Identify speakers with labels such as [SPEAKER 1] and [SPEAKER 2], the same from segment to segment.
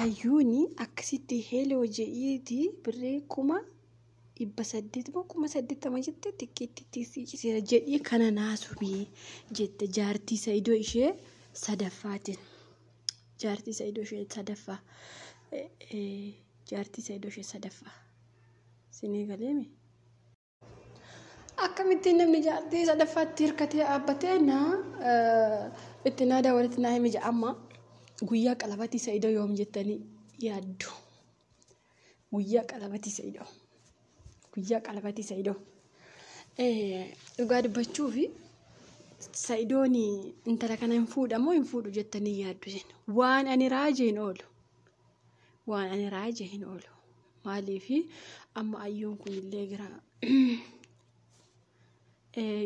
[SPEAKER 1] Ayyuuni akkasitti heeloo je'iiti birrii kuma dhibba saddeet moo kuma saddeettama jette xiqqeettitti sii ciseera jedhii kana naasubii jette jaartii sa'idoo ishee sadaffaatiin. Jaartii sa'idoo ishee sadaffaa. Jaartii sa'idoo ishee sadaffaa. Sinii galeemi. Akkamittiin namni jaartii sadaffaatti hirkatee dhaabbatee naa itti naa daawwatitti naa himi ja'amma guyyaa qalabatii sa'idoo yoom jettanii yaaddu. Guyyaa qalabatii sa'idoo. Guyyaa qalabatii sa'idoo. Dhugaa dubbachuu fi sa'idoon intala kana hin fuudhamoo hin fuudhu jettanii yaaddu jenna. Waan ani raajeen oolu. waan ani raaje hin oolu maaliifi amma ayyoon kun illee gara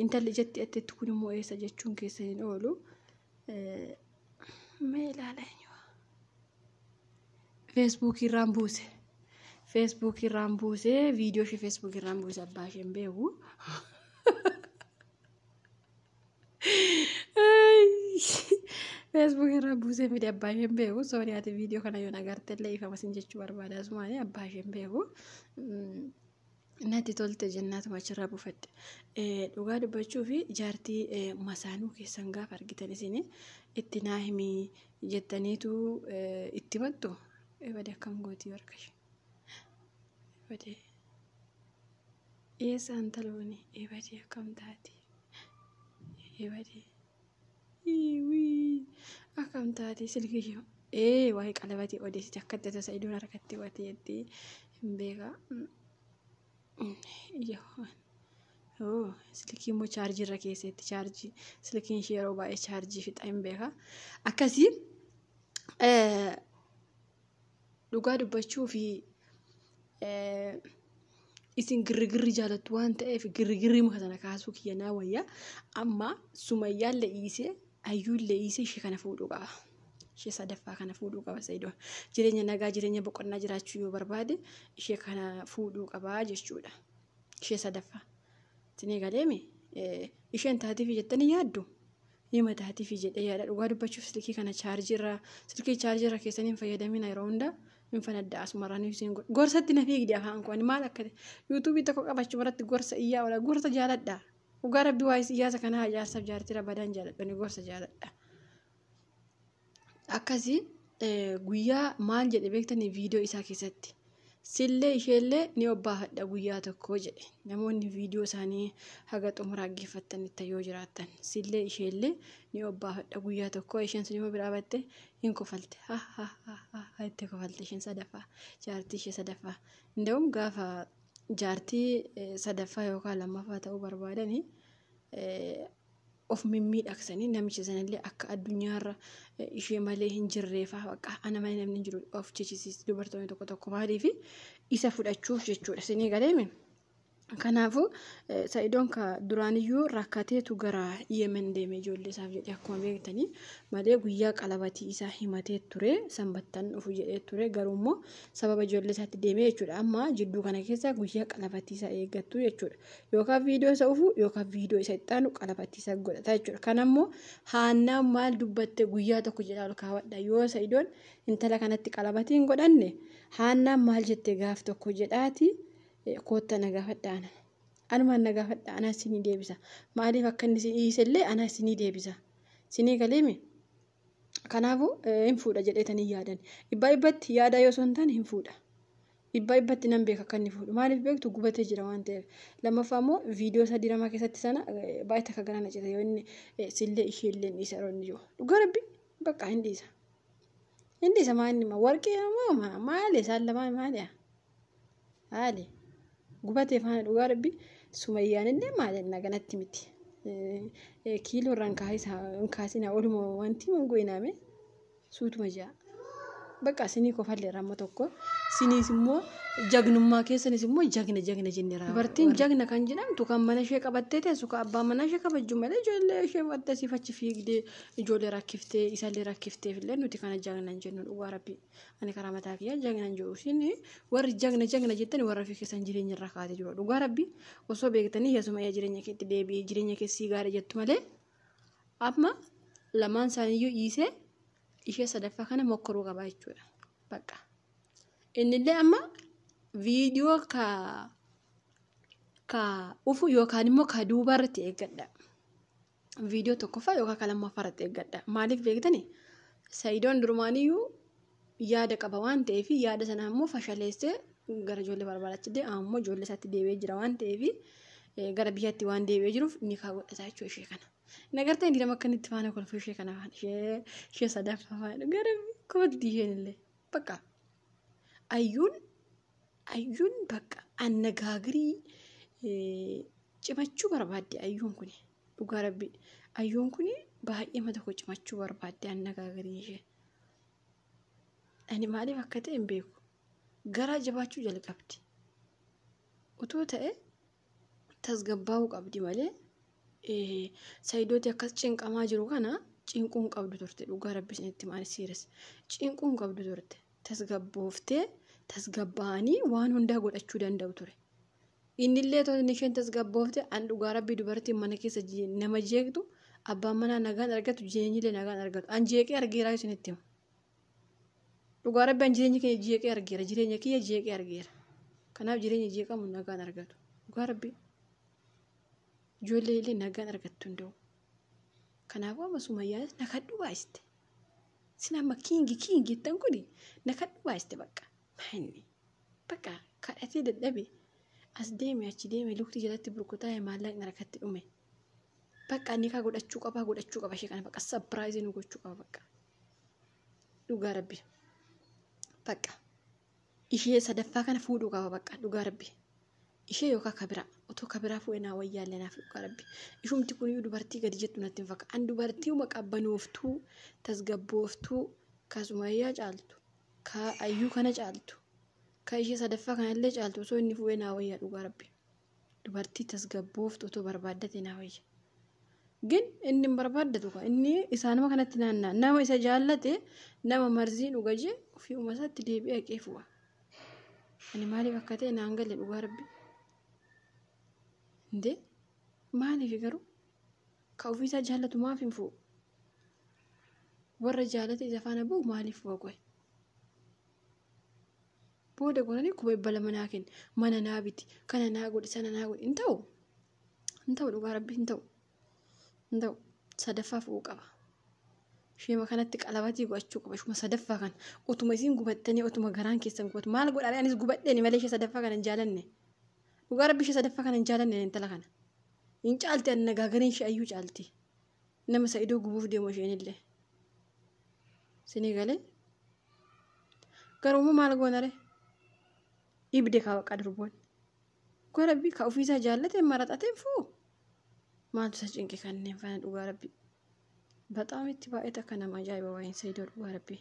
[SPEAKER 1] intalli jetti attetti kun immoo eessa jechuun keessa hin oolu mee ilaala feesbuukii irraan buuse feesbuukii irraan buuse viidiyoo ishee feesbuukii irraan buuse abbaa isheen beeku Facebook irraa buusee miti abbaa isheen beeku sooni ati viidiyoo kana yoo nagarte illee ifama sin jechuu barbaada asumaan abbaa isheen beeku natti tolte jennaatuma achirraa buufadhe dhugaa dubbachuu fi jaartii masaanuu keessan gaafa argitan isin itti naa himii jettaniitu itti mattu ebade akkam gootii warqashe. Ebadee. Eessa intalooni? Ebadee akkam taate? Ebadee. Iwii. Akkam taate silkii yoo. Ee waa'ee qalabatii odeessite akka itti tasa idoon harkatti watee itti hin beekaa. Yoo. Oo silkii immoo chaarjii irra keesseetti chaarjii silkiin ishee yeroo baay'ee chaarjii fixa hin beekaa. Akkasii. Dhugaa dubbachuuf isin girrigirri jaalattu waan ta'eef girrigirri muka sana kaasuu kiyya naa wayya. Amma sumayyaan le'iisee ayyuun le'iisee ishee kana fuudhuu qaba. Ishee sadaffaa kana fuudhuu qaba Sayidoon. Jireenya nagaa jireenya boqonnaa jiraachuu yoo barbaade ishee kana fuudhuu qaba jechuudha. Ishee sadaffaa. Isin eegaleemi isheen taatiif jettanii yaaddu Hima taatiifi jedhee yaada dhugaa dubbachuuf silkii kana chaarjii irraa silkii chaarjii irra keessanii hin fayyadamina yeroo hunda hin fanadda asumarraa ni isiin godha. Gorsatti na fiigdi afaan koo ani maal akka yuutuubii tokko qabachu irratti gorsa iyyaa oola gorsa jaaladha. Dhugaa rabbi waa'ee siyaasa kanaa jaarsaaf jaartira badaan jaaladha ni gorsa jaaladha. akkasii guyyaa maal jedhe beektanii viidiyoo isaa keessatti sillee isheellee ni obbaafadha guyyaa tokko jedhe namoonni viidiyoo isaanii haga xumuraa dhaggeeffattanitti yoo jiraattan sillee isheellee ni obbaafadha guyyaa tokko isheen sun immoo biraa batte hin kofalte ha ha ha ha ha itti kofalte isheen sadaffaa jaartii ishee sadaffaa inda'uun gaafa jaartii sadaffaa yookaan lammaffaa ta'uu barbaadanii of mimmiidhaksanii namicha sanallee akka addunyaarra ishee malee hin jirreefaa bakka ana malee namni hin jiru of jechisiis dubartoonni tokko tokko maaliif isa fudhachuuf jechuudha isinii galeemi. Kanaafuu sa'idoon ka duraaniyyuu rakkateetu gara yemen deeme ijoollee isaaf jedhee akkuma beektanii malee guyyaa qalabatii isaa himatee ture sanbattan dhufu jedhee ture garuu immoo sababa ijoollee isaatti deemee jechuudha amma jidduu kana keessa guyyaa qalabatii isaa eeggattu jechuudha Yookaan viidiyoo isa ufu yookaan viidiyoo isa itti aanu qalafattiisa godhata jechuudha. Kan ammoo haannaan maal dubbatte guyyaa tokko jedhaa ol kaawwadha. Yoo sa'idoon intala kanatti qalafatii hin godhanne haannaan maal jette gaaf tokko jedhaati kootta na gaafadha ana. Anumaan na gaafadha anaa isinii deebisa. Maaliif akka inni isin dhiisellee anaa isinii deebisa. Isinii galeemi? Kanaafuu hin fuudha jedheetan hin yaadan. Dhibbaa dhibbatti yaadaa yoo osoo hin taane hin fuudha. Dhibbaa dhibbatti nan beeka akka inni fuudhu. Maaliif beektu gubatee jira waan ta'eef. Lammaffaa immoo viidiyoo isaa diramaa keessatti sana baay'ee takka gara na cite yoo inni sillee ishee illee hin dhiisa yeroo inni jiru. Dhugaa rabbi bakka hin dhiisa. Hin dhiisa maa inni warqii moo maali isaan lamaan maali'a? haali gubatee faana dhugaa rabbi sumayyaan illee maal jennaa ganatti miti kiiloo irraa hin kaasinaa oluma wanti hin goyinaame suutuma ja'a bakka sinii kofallee ramma tokko siniis immoo jagnummaa keessanis immoo jagna jagna jenne raawwa dubartiin jagna kan jedhamtu kan mana ishee qabattee teessu kan abbaan manaa ishee kabajju malee ijoollee ishee fudhattee siif achi fiigdee ijoollee rakkiftee isallee rakkifteef illee nuti kana jagna hin jennu dhugaa rabbii. ani karaa mataa kiyyaa jagna hin jiru isin warri jagna jagna jettani warra fi keessan jireenya irra kaate jiru dhugaa rabbi osoo beektanii yasuma yaa jireenya keetti deebi'ee jireenya keessii gaara jettu malee amma lamaan isaaniiyyuu dhiisee ishee sadaffaa kana mokkoruu qaba jechuudha bakka innillee amma viidiyoo ka ka ufu yookaan immoo ka duubaa irratti eeggadha viidiyoo tokkoffaa yookaan kan lammaffaa irratti eeggadha. Maaliif beektani? Sayidoon durumaaniyyuu yaada qaba waan ta'eef yaada sana immoo fashaleessee gara ijoollee barbaadaatti deema ammoo ijoollee isaatti deebi'ee jira waan ta'eef gara biyyatti waan deebi'ee jiruuf ni kaa godhata jechuu ishee kana. Nagartee inni nama akka inni itti faana kolfuu ishee kana faana ishee ishee sadaffaa faana gara kooddi isheen illee bakka ayyuun Ayyuun bakka annagaagirii cimachuu barbaadde ayyuun kuni dhugaa rabbi ayyuun kuni baay'ee mata koo cimachuu barbaadde annagaagirii ishee ani maaliif akka ta'e hin beeku garaa jabaachuu jalqabdi utuu ta'e tasgabbaa'uu qabdi malee eh, sayidooti akkas cinqamaa jiru kana cinquun qabdu turte dhugaa rabbi isinitti maal siiras cinquun qabdu turte tasgabbooftee tasgabbaa'anii waan hundaa godhachuu danda'u ture innillee toonni isheen tasgabboofte an dhugaa rabbii dubartiin mana keessa jee- nama jeeqtu abbaan manaa nagaan argatu jireenyillee nagaan argatu an jeeqee argeeraa isinitti hima Dhugaa rabbi an jireenya keenya jeeqee argeera jireenya kiyya jeeqee argeera kanaaf jireenya jeeqamu nagaan argatu dhugaa rabbi ijoollee illee nagaan argattu hin da'u kanaafuu amma sumayyaanis na kadhu baay'iste sin amma kiingi kiingi jettan kun na kadhu baay'iste bakka maayinni bakka kadhatee dadhabe as deeme achi deeme lukti jalatti burkutaa maallaqni harkatti dhume. Bakka nikaa godhachuu qabaa godhachuu qaba ishee kana bakka sapiraayizii nu gochuu qaba bakka. Dhugaa rabbi. Bakka. Ishee sadaffaa kana fuudhuu qaba bakka dhugaa rabbi. Ishee yookaan kabiraa otoo kabiraa fuudhee naa wayyaallee naaf dhugaa rabbi. Ishumti kuniyyuu dubartii gadi jettu natti hin fakkaatu. An dubartii uma qabbanooftuu tasgabbooftuu kasumayyaa caaltu ka ayyuu kana caaltu ka ishee sadaffaa kanallee caaltu osoo inni fuudhee naa wayyaa dhugaa rabbi. Dubartii tasgabbooftu otoo barbaaddate naa wayya. Gin inni hin barbaaddatu kaa inni isaanuma kanatti naanna'a. Nama isa jaallate nama marzii dhuga jee ofii uma isaatti deebi'ee haqee fu'a. Ani maaliif akka ta'e naan gale dhugaa rabbi. Indee maaliif garuu ka ofii isaa jaallatu maaf hin fu'u? Warra jaalate isa faana bu'u maaliif fu'a qoy? Booda goonanii kuma dhibba lama naa kenni. Mana naa biti. Kana naa godhi. Sana naa godhi. Hin ta'u. Hin ta'u dhugaa rabbi hin ta'u. Hin ta'u. Sadaffaa fu'uu qaba. Ishuma kanatti qalabatii godhachuu qaba. Ishuma sadaffaa kana. Utuma isiin gubattanii utuma garaan keessan gubatu. Maal godhaa anis gubadheeni malee ishee sadaffaa kana hin jaalanne. Dhugaa rabbi ishee sadaffaa kana hin jaalanne intala kana. Hin caalti anna gaagariin ishee ayyuu caalti. Nama sa'idoo gubuuf deemu isheenillee. Sinii galee Garuummoo maal goonare? Ibde kaa baqqaa durboon. Dhugaa rabbii kaa ofiisaa jaallateen maraxateen fuu maaltu isa cinqe kanneen fana dhugaa rabbii. Baxaam itti baay'eeta akka nama ajaa'iba waa'een Saidoo dhugaa rabbii.